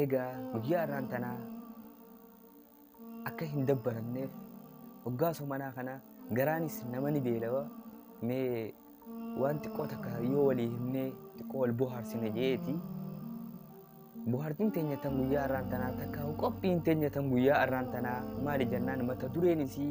Eegaa guyyaa har'aan tanaa akka hin dabbaramneef hoggaa somanaa kana garaanis nama ni beelawa mee waan xiqqoo takka yoo walii himnee xiqqoo wal bohaarsine jeeti. Bohaartiin teenya tan guyyaa har'aan tanaa takka qophiin teenya tan guyyaa har'aan tanaa maali jennaan mata dureen isii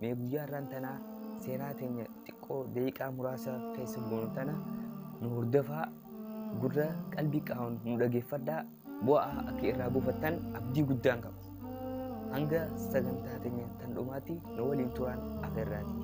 Mee guyyaa irraan tanaa seenaa teenya xiqqoo daqiiqaa muraasa keessa goonu tana nu hordofaa gurra qalbii qaawun nu dhageeffadhaa bu'aa akka irraa buufattan abdii guddaan qaba. Hanga sagantaa teenya tan dhumaatti nu waliin turaan afeerraati.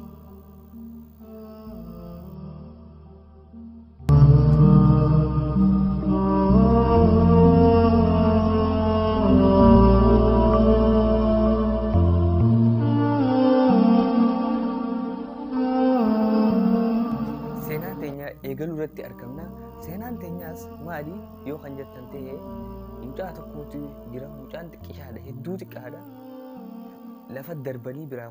seenaa teenya eegaluu irratti argamna seenaan teenyaas maali yoo kan jettan ta'e mucaa tokkootu jira mucaan xiqqishaadha hedduu xiqqaadha lafa darbanii biraa